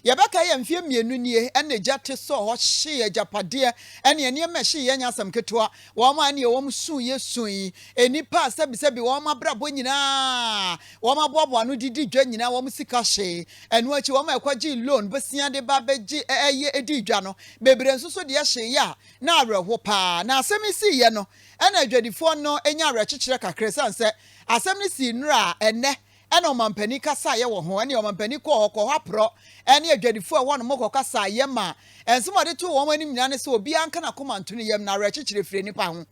Yɛbɛkae a mfeɛ mmienu nie na egya te sɔɔ hɔ hyee agyapadeɛ ne nneɛma a ɛhyeeɛ nyɛ asɛm ketewa. Wɔn a ɛnneɛ wɔn suu yɛ suu yi, nnipa a sɛbisɛbi wɔn abrabɔ nyinaa a wɔaboaboa ano de di dwa nyinaa wɔn sika hyee. Ɛno akyi wɔn a ɛkɔgyee loan bosea de ba bɛgye ɛyɛ dii dwa no bebree nso so deɛ hyeeɛ a na awerɛho pa ara. Na asɛm yi siiɛ no na adwadifoɔ no nyaa awerɛkyekyerɛ kakra esiane sɛ asɛm no sii nnora a ɛnnɛ ɛna ɔmampanin kasaeɛ wɔ ho, ɛne ɔmampanin kɔɔ hɔ, kɔɔ hɔ aporɔ, ɛne adwadifoɔ a ɛwɔ hɔ no kɔkasaeɛ ma nsɛm a wɔde too wɔn anim nyinaa ne sɛ obiara nka n'akoma nto ne yam na awerɛkyekyerɛ firi nnipa ho.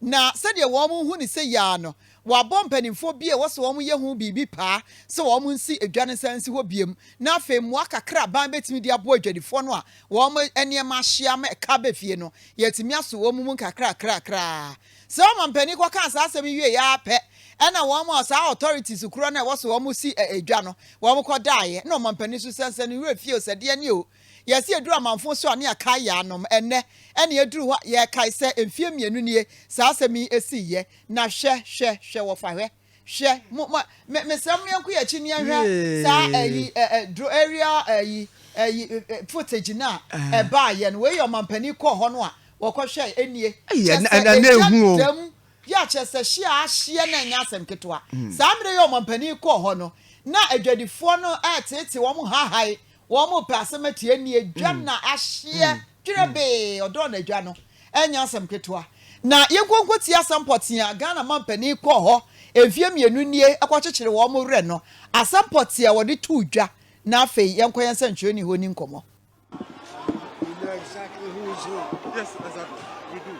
Na sɛdeɛ wɔhu no sɛ yea no, wɔabɔ mpanimfoɔ bi a ɛwɔ sɛ wɔyɛ ho biribi paa sɛ wɔnsi dwa no nsan nsi hɔ biom, na afei mmoa kakra a aban bɛtumi de aboa adwadifoɔ no a wɔn nneɛma ahye ama ɛka aba fie no, yɛatumi aso wɔn mu nkakrakraakra ara. Sɛ ɔmampanin kɔ kaa saa asɛm yi wieɛ ara pɛ ɛna wɔn a saa authorities korɔ no a ɛwɔ so wɔn si dwa no wɔn kɔ daeɛ ɛna ɔmampanin so sɛnsɛn ne werɛ fie o sɛ deɛ ne o yɛse yɛduru amanfo so a ne yɛkae yɛanom ɛnɛ ɛne ɛduru hɔ yɛkae sɛ mfie mmienu nie saa asɛm yi siiɛ na hwɛ hwɛ hwɛ wɔfa hwɛ Hwɛ, mo, mo, me, mesrɛ mo yɛnko yɛn akyi ne yɛnhwɛ saa ɛyi, ɛ, ɛ, dro area ɛyi, ɛyi, footage no a ɛbaa yɛ no. Wei yɛ ɔmampanin kɔɔ hɔ no a wɔkɔhwɛ ɛnie. Kyɛ sɛ ɛhyɛ dam, yɛ kyɛ sɛ hyia ahyeɛ na ɛnyɛ asɛm ketewa. Hmm. Saa mmerɛ yɛ ɔmampanin kɔɔ hɔ no, na adwadifoɔ no ɛɛtete wɔn haahae Wɔn pɛ asɛm atie ɛnneɛ adwa na ahyeɛ twerɛ bee ɔdɔɔ no adwa no ɛnyɛ asɛm ketewa na yɛnkonko tie asɛm pɔtee a Ghana mampanin kɔɔ hɔ mfeɛ mmienu nie ɛkɔ kyekyere wɔn werɛ no asɛm pɔtee a wɔde too dwa na afei yɛnkɔ yɛn sɛnkyerɛni hɔ ni nkɔmmɔ.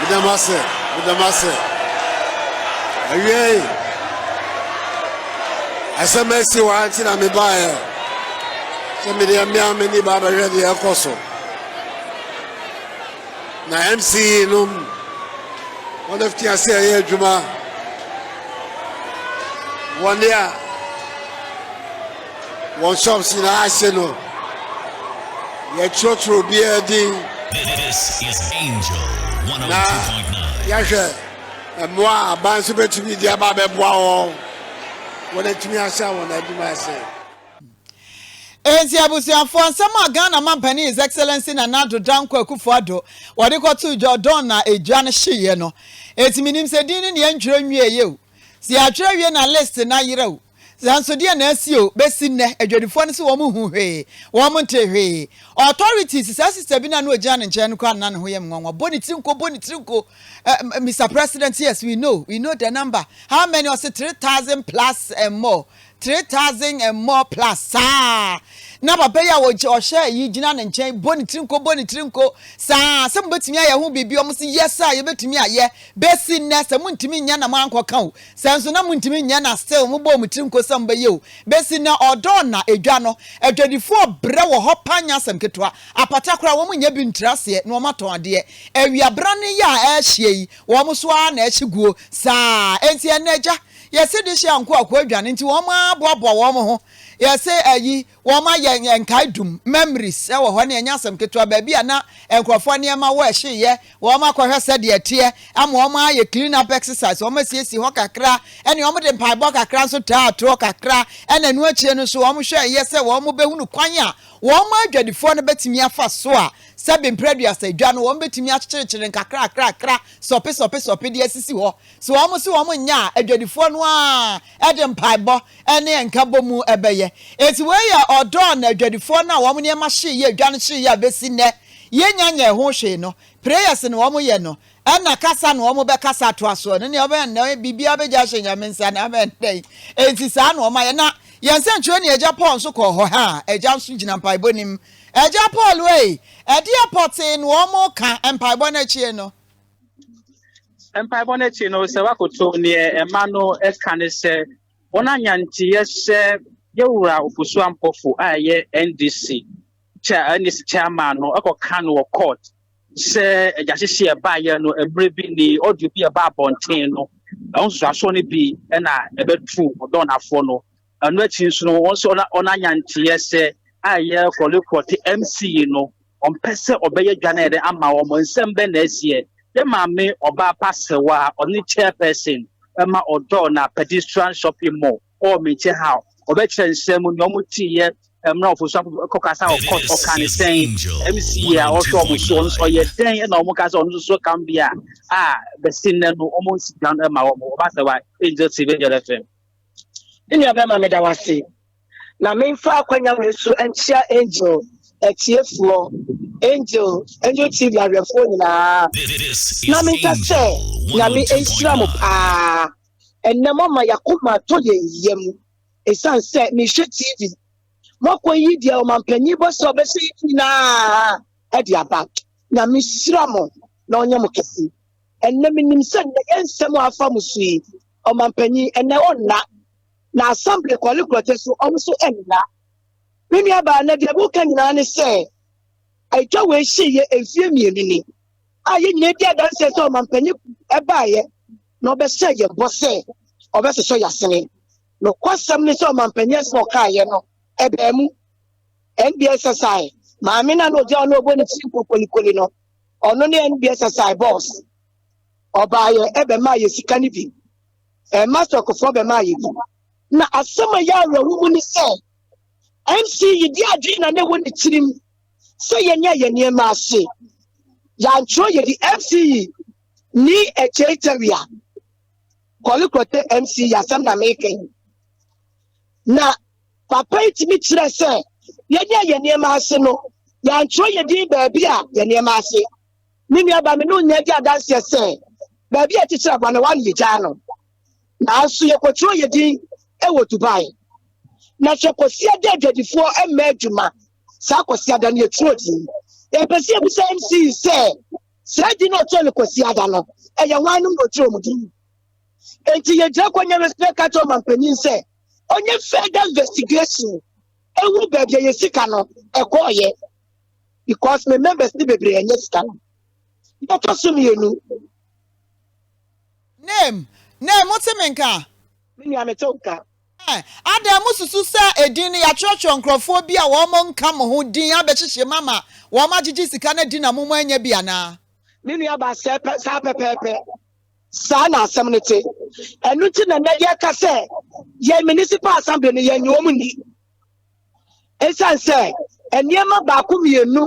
Meda mo ase, meda mo ase. Awiei, asɛm asi hɔ nti na mebaeɛ sɛ mede mmea me ni ba bɛhwɛ deɛ ɛkɔ so. Na MCE nom, wɔn afiti ase ɛyɛ adwuma. Wɔn a Wɔn shops nyinaa ase no, yɛtwerɛtwerɛ obiara din. This is Angel 102.9. Na yɛhwɛ mmoa a aban nso bɛtumi de aba abɛboa wɔn. Wɔatumi ahyɛ wɔn adwuma ase. Enti abusuafoɔ, nsɛm a Ghana Mampanin His Excellency Nana Addo Dankwa Akufo-Addo wɔde kɔtoo Jordan na egya no hyeeɛ no, enti menim sɛ din no na yɛntwerɛ nwieeɛ o. Sɛ yɛatwerɛ wie na list no ayera o. Nanso deɛ na asi o, bɛsi nnɛ adwadifoɔ no se wɔn nhu hwee, wɔn nte hwee. Authorities, saa sister bi no a na ɔgyina ne nkyɛn no koraa nna ne ho yɛ me nwanwa, bɔ ne tiri nko, bɔ ne tiri nko, eh, Mister President, yes, we know, we know the number, how many, ɔse three thousand plus and more, three thousand and more plus, saa, na papa yi a ɔgy- ɔhyɛ yi gyina ne nkyɛn, bɔ ne tiri nko, bɔ ne tiri nko, saa, sɛ mobɛtumi ayɛ ho biribi, wɔn se yes a, yɛbɛtumi ayɛ, bɛsi nnɛ, sɛ montumi nyɛ na moankɔka o, Sɛ nso na montumi nyɛ na still mobɔɔ mo tiri nko sɛ mobɛyɛ o, besi nnɛ ɔdɔ nna edwa no, adwadifo ɔbrɛ wɔ hɔ paa nyɛ asɛm ketewa, apata koraa wɔn nyɛ bi ntiri aseɛ na wɔn atɔn adeɛ, awia brane yi a ɛɛhyeɛ yi wɔn so ara na ɛhye guo saa, enti ɛnna agya yɛse de hye anko akoa dwane nti wɔn ara boaboa wɔn ho, yɛse ayi Wɔayɛ nkae dum, memories, wɔ hɔ ne ɛnyɛ asɛm ketewa, baabi a na nkurɔfoɔ nneɛma wɔ, ɛhyeeɛ, wɔakɔhwɛ sɛdeɛ ɛteɛ, ama wɔayɛ clean up exercise, wɔasiesie hɔ kakra, ɛnna wɔde mpaebɔ kakra nso taa atorɔ kakra, ɛnna ɛno akyire no nso wɔhwɛeɛ sɛ wɔbɛhunu kwan a wɔn adwadifoɔ no bɛtumi afa so a sɛbe mprɛduasa dwa no wɔbɛtumi akyekyerekyere no kakrakrakra, sɔpe sɔpe sɔpe de asisi hɔ, Se wɔn se wɔn nnyɛ a, adwadifoɔ no ara de mpaebɔ ne nkabɔ mu bɛyɛ. Enti wei yɛ ɔdɔ a na adwadifoɔ no a wɔn nneɛma hyee yɛ dwa no hyee yɛ a bɛsi nnɛ yɛnnya nyɛɛ ho hwee no. Prayers na wɔn yɛ no, ɛna kasa na wɔn bɛkasa atoa soɔ no. Nea ɔbɛn nnɛ biribiara bɛgya ahyɛ Nyame nsa na abɛn dɛn? Enti saa na wɔn ayɛ. Na yɛn sɛnkyerɛwni Agya Paul nso kɔɔ hɔ. Haa, Agya nso gyina mpaebɔ no mu. Agya Paul ei, ɛdeɛ pɔtee na wɔn ka mpaebɔ no akyire no. Mpaebɔ no akyi no, sɛ woakoto neɛ ɛma no ɛka ne sɛ wɔn anyanteɛ sɛ yɛwura ofosuo ampɔfo a ɛyɛ NDC NDC chairman no ɛkɔka no wɔ court sɛ agyahyehye ɛbaayɛ no mmerɛ bi ni ɔdio bi ɛba abɔnten no ɛho nsusuasoɔ no bi ɛna ɛbɛtu ɔdɔnafoɔ no Ɛno akyi nso no, wɔn nso wɔn anyanteɛ sɛ a ɛyɛ kɔlekɔ te MC yi no, ɔmpɛ sɛ ɔbɛyɛ dwa no yɛ dɛ ama wɔn. Nsɛm bɛn na ɛsiɛ? Yɛn maame ɔbaa pa Sewa a ɔne chairperson ma ɔdɔɔ na Pedestrian Shopping Mall kɔɔ me nkyɛn ha a ɔbɛkyerɛ nsɛm mu nea wɔteeɛ mmerɛ ɔfosuafo kɔkasa wɔ court ɔkaa ne sɛn? MC yi a ɔhwɛ wɔn so ɔno nso ɔyɛ dɛn na wɔn kaa sɛ ɔno nso so kam bi a a bɛsi nnɛ no wɔn nsi dwa no ma wɔn? Ɔbaa Sewa, Angel TV, Angel FM. Me nua bɛma meda wase na memfa akwanya wei so nkyia Angel atiefoɔ Angel Angel TV ahwɛfoɔ nyinaa na menka sɛ nyame nhyira mo paa ɛnɛ moama yakoma atɔ yɛn yam ɛsiane sɛ mehwɛ TV moakɔ yi deɛ ɔmampanyin bɔ sɛ ɔbɛhyɛ yɛ nyinaa ɛde aba nyame hyira mo na ɔnyɛ mo kɛse ɛnɛ menim sɛ nnɛ yɛ nsɛm a afa mo so yi ɔmampanyin, ɛnnɛ ɔnna, na Assembly Kwali Kurotse nso, wɔn nso nna. Me nuabaa, na deɛ mereka nyinaa ne sɛ, atwa wei hyeeɛ mfeɛ mmienu ni a yɛn nyinaa di adanseɛ sɛ ɔmampanyin baeɛ na ɔbɛhyɛɛ yɛn bɔ sɛ ɔbɛsosɔ yɛn asene. Nokwasɛm ne sɛ ɔmampanyin asɛm a ɔkaeɛ no, ɛbaa mu. NBSSI maame no a na ɔgyina hɔ na ɔbɔ ne tiri nkokolikoli no, ɔno ne NBSSI boss. ɔbaeɛ ɛbɛmaa yɛ sika no bi ɛma sɔkofoɔ bɛmaa yɛ bi na asɛm a yɛ awerɛho mu ne sɛ mc yi de adwene na ne wɔ ne tirim sɛ yɛnyɛ yɛ nneɛma ase yɛantwerɛ yɛdi mc yi ni akyei tawia kɔlekrɔte mc yi asɛm na meka yi na papa yi tumi kyerɛ sɛ yɛnyɛ yɛ nneɛma ase no yɛantwerɛ yɛdi baabi a yɛ nneɛma ase ne nuabaa me ne no nyinaa di adanseɛ sɛ baabi a ɛkyekyere aboa no wɔn yɛgyaa no nanso yɛkɔtwerɛ yɛ din wɔ dubai na hwɛ kɔsia da adwadifoɔ mma adwuma saa kɔsia da no yɛtwerɛ din yɛpɛ sɛ yɛbisa mc sɛ saa din no ɔtwerɛ no kɔsia da no ɛyɛ hwanom na ɔtwerɛ mu din enti yɛgyina kɔ nyɛ respect ka kyerɛ ɔmampanyin sɛ ɔnyɛ further investigation ɛwɔ baabi a yɛ sika no ɛkɔɔyɛ because me members ne bebree ɛnyɛ sika no yɛtɔ so mmienu. name name mo te me nka. me nua me te wo nka. Eh, adan mo susu sɛ edin no yɛatwerɛtwerɛ nkurɔfoɔ bi a wɔn nka mo ho din abɛhyehye mu ama wɔn agyegye sika no adi na mo mo anya bi anaa. me nua ba sɛ pɛ saa pɛpɛɛpɛ saa na asɛm no te ɛno nti na nnɛ yɛka sɛ yɛn municipal assembly no yɛnyɛ wɔn ni. Esiane sɛ nneɛma baako mmienu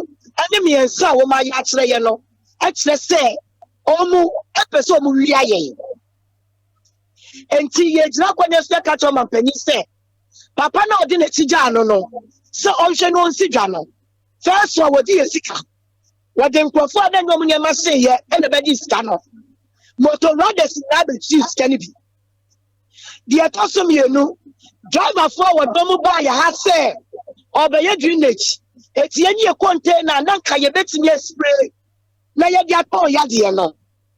ne mmiɛnsa a wɔayɛ akyerɛ yɛn no kyerɛ sɛ wɔpɛ sɛ wɔwia yɛn. Enti yɛgyina kwan so yɛka kyerɛ ɔmampanyin sɛ papa no a ɔde n'akyi gyaa no no sɛ ɔnhwɛ na ɔnsi dwa no. Fɛso a wɔde yɛ sika, wɔde nkurɔfo a na ɛnyɛ wɔn nneɛma seyɛ na ɛbɛgye sika no. Motor riders nyinaa bɛkyiri sika no bi. deɛ ɛtɔ so mmienu driverfoɔ a wɔdɔ mu baa yɛ ha sɛ ɔbɛyɛ drainage ɛti ɛne yɛ container na nka yɛbɛtumi aspray na yɛde atɔn yadeɛ no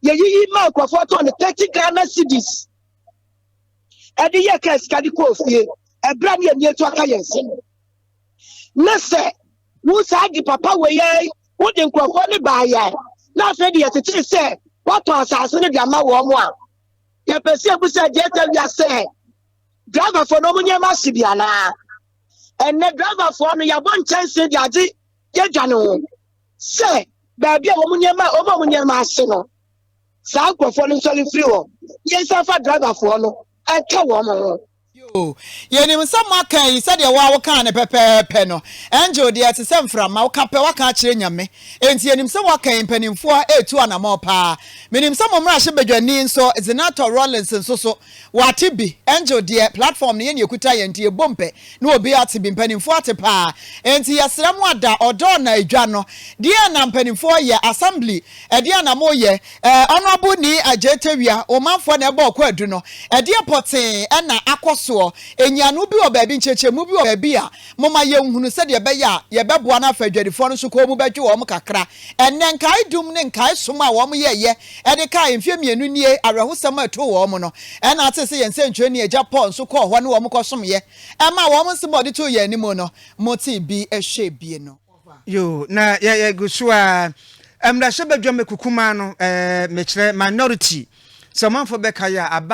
yɛyiyi ma nkurɔfoɔ tɔn no thirty ghana cedis ɛde yɛ ka sika de kɔɔ fie ɛberɛ a ne yɛni atu aka yɛn nsɛm na sɛ wo saa de papa wɔ yɛn wode nkurɔfoɔ ne baa yɛn na afei de yɛtete sɛ woatɔn asase no de ama wɔn a yɛpɛ sɛ yɛbu sɛ gye ɛtɛ wia sɛ driverfoɔ no ɔmo nneɛma ase bi anaa ɛnɛ driverfoɔ no yɛabɔ nkyɛnse de agye yɛdwa ne ho sɛ baabi a ɔmo nneɛma ɔmo ɔmo nneɛma ase no saa nkurɔfoɔ no nsɔre firi hɔ yɛnsa fa driverfoɔ no ɛka wɔn ho Yoo, yɛnim sɛ moaka ayi sɛdeɛ wo ara wokaa no pɛpɛɛpɛ no. Angel deɛ ɛte sɛ mframa, woka pɛ woaka akyerɛ Nyame. Enti yɛnim sɛ woaka ayi mpanimfoɔ ɛretu anamɔn paa. Menim sɛ mo mmarahyɛbadwani nso, Zenator Rawlings nso so, wate bi. Angel deɛ platform no yɛn na yɛkuta yɛn nti yɛbom pɛ na obiara ate bi. Mpanimfoɔ ate paa. Enti yɛsrɛ mo ada ɔdɔ na dwa no. Deɛn na mpanimfoɔ yɛ? Assembly, ɛdeɛn na moyɛ? Eh Honourable Nii Adjei Tawia, Omanfoɔ na ɛbɔɔ kwaadu no, ɛdeɛ pɔtee na akɔ soɔ, nyiano bi wɔ baabi, nkyerɛkyerɛmu bi wɔ baabi a, moma yɛnhunu sɛdeɛ ɛbɛyɛ a yɛbɛboa no afa adwadifoɔ no so kɔɔ mu bɛgye wɔn kakra. Ɛnnɛ, nkae dum ne nkae som a wɔn yɛeɛ de kae mfeɛ mmienu nie awerɛhosɛm a ɛtoo wɔn no, ɛna atee sɛ yɛn nsɛnkyerɛnni Agya Paul nso kɔɔ hɔ ne wɔn kɔsomeɛ, ɛmaa wɔn nsɛm a wɔde too yɛn anim no, motee bi hwɛɛ bi no. Yoo na yɛ yɛ gu so aa. Mmarahyɛbadwam akukumaa no ɛɛ mekyerɛ minority sɛ ɔmanfoɔ bɛkae a aban.